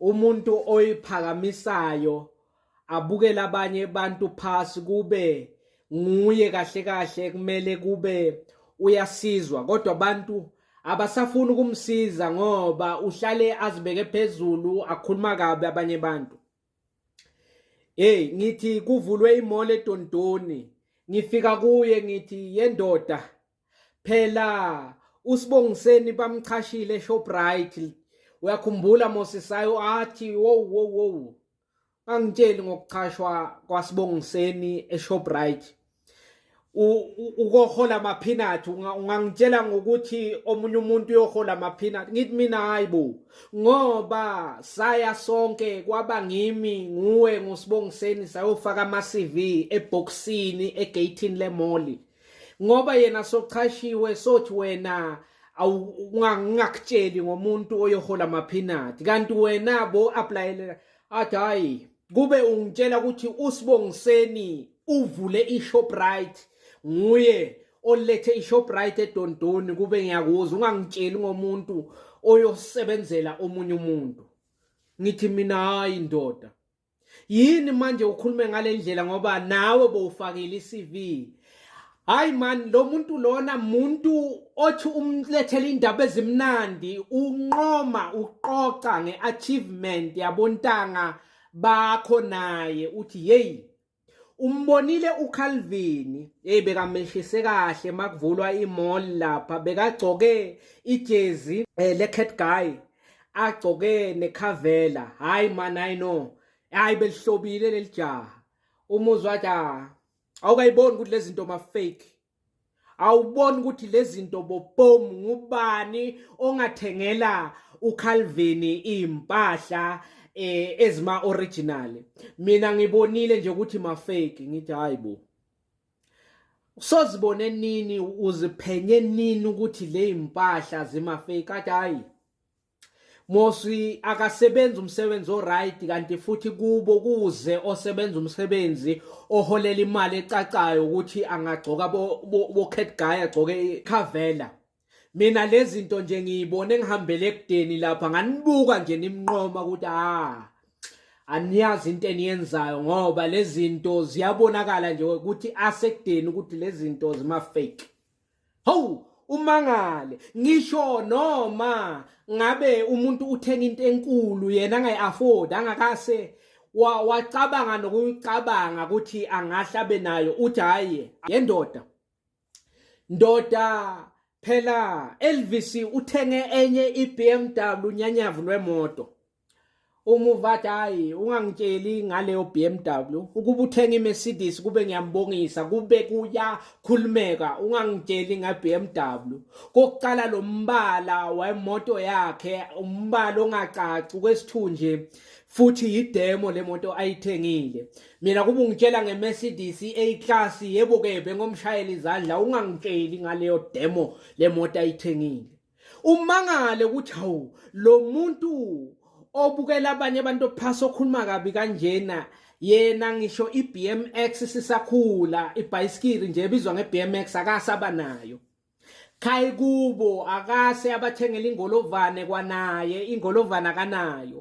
umuntu oyiphakamisayo abukele abanye abantu phasi kube nguye kahle kahle kumele kube uyasizwa kodwa abantu abasafuni ukumsiza ngoba uhlale azibeke phezulu akhuluma kabi abanye abantu hey ngithi kuvulwe imole edondoni ngifika kuye ngithi yendoda Phela uSibongiseni bamchashile eShoprite. Uyakhumbula Mosisayo athi wow wow wow. Angitsheli ngokuchashwa kwaSibongiseni eShoprite. ukohola amaphinathi ungangitshela ngokuthi omunye umuntu uyohola amaphinathi ngithi mina hayi bo ngoba saya sonke kwaba ngimi nguwe ngusibongiseni sayofaka ama-cv ebhokisini egeyithini lemoli ngoba yena sochashiwe sothi wena awungakutsheli ngomuntu oyohola maphinati kanti wena bo applyela athi hayi kube ungitshela ukuthi usibongiseni uvule ishoprite nguye olethe ishoprite edondoni kube ngiyakuzwa ungangitsheli ngomuntu oyosebenzela omunye umuntu ngithi mina hayi ndoda yini manje ukhulume ngale ndlela ngoba nawe bowufakile i-cv hayi mani lo muntu lona muntu othi umlethele indaba ezimnandi unqoma uqoqa nge-achievement yabontanga bakho naye uthi yeyi Umbonile uCalvin, hey bekamehlise kahle makuvulwa imall lapha bekagcoke ijezi eh, le cat guy agcoke nekhavela hayi man i know hayi belihlobile lelijaha umuzwa wathi ah, awukayiboni ukuthi lezi zinto ma fake awuboni ukuthi lezinto bobom ngubani ongathengela uCalvini impahla eh ezima original mina ngibonile nje ukuthi ma fake ngithi hayibo usozibone nini uziphenye nini ukuthi le impahla zima fake kade hayi Moswi akasebenzi umsebenzi oright kanti futhi kubo kuze osebenza umsebenzi oholela imali ecacayo ukuthi angagcoka bo, bo, bo cat guy agcoke ikhavela mina lezinto nje ngiyibone ngihambele ekudeni lapha nganibuka nje nimnqoma ukuthi ah aniyazi into eniyenzayo ngoba lezinto ziyabonakala nje ukuthi asekudeni ukuthi lezinto zima fake Hawu umangale ngisho noma ngabe umuntu uthenga into enkulu yena angayi afford angakase wa wacabanga nokucabanga ukuthi angahla benayo uthi hayi yendoda ndoda phela Elvis uthenge enye iBMW nyanyavu lwemoto Umuvathi hayi ungangitsheli ngaleyo BMW ukuba uthenga iMercedes kube ngiyambongisa kube kuyakhulumeka ungangitsheli ngeBMW kokuqala lo mbala wemoto yakhe umbala ongacaci kwesithunje futhi yidemo le moto ayithengile mina kuba ungitshela ngeMercedes A class yebo ke bengomshayeli izandla ungangitsheli ngaleyo demo le moto ayithengile umangale ukuthi hawu lo muntu obukela abanye abantu phasi okhuluma kabi kanjena yena ngisho iBMX sisakhula ibhayisikili nje ebizwa ngeBMX akasaba nayo khayi kubo akase abathengela ingolovane kwanaye ingolovane akanayo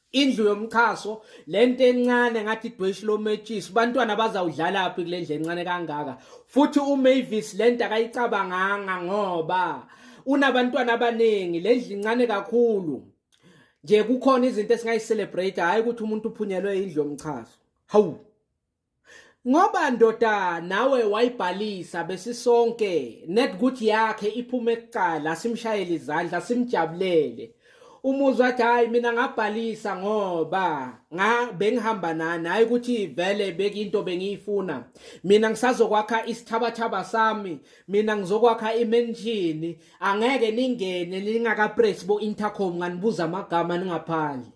indlu yomxhaso lento encane ngathi idweshi lometshisi bantwana bazawudlala phi kule ndlu encane kangaka futhi umavis lento akayicabanganga ngoba unabantwana abaningi le ndlu incane kakhulu nje kukhona izinto esingayicelebrate hhayi ukuthi umuntu uphunyelwe indlu yomxhaso hawu Ngoba ndoda nawe wayibhalisa besisonke net ukuthi yakhe iphume kuqala simshayele izandla simjabulele. Umuzwa athi hayi mina ngabhalisa ngoba nga bengihamba nani hayi ukuthi vele bekinto bengiyifuna. Mina ngisazokwakha isithabathaba sami, mina ngizokwakha imenshini, angeke ningene ningaka press bo intercom nganibuza amagama ningaphandle.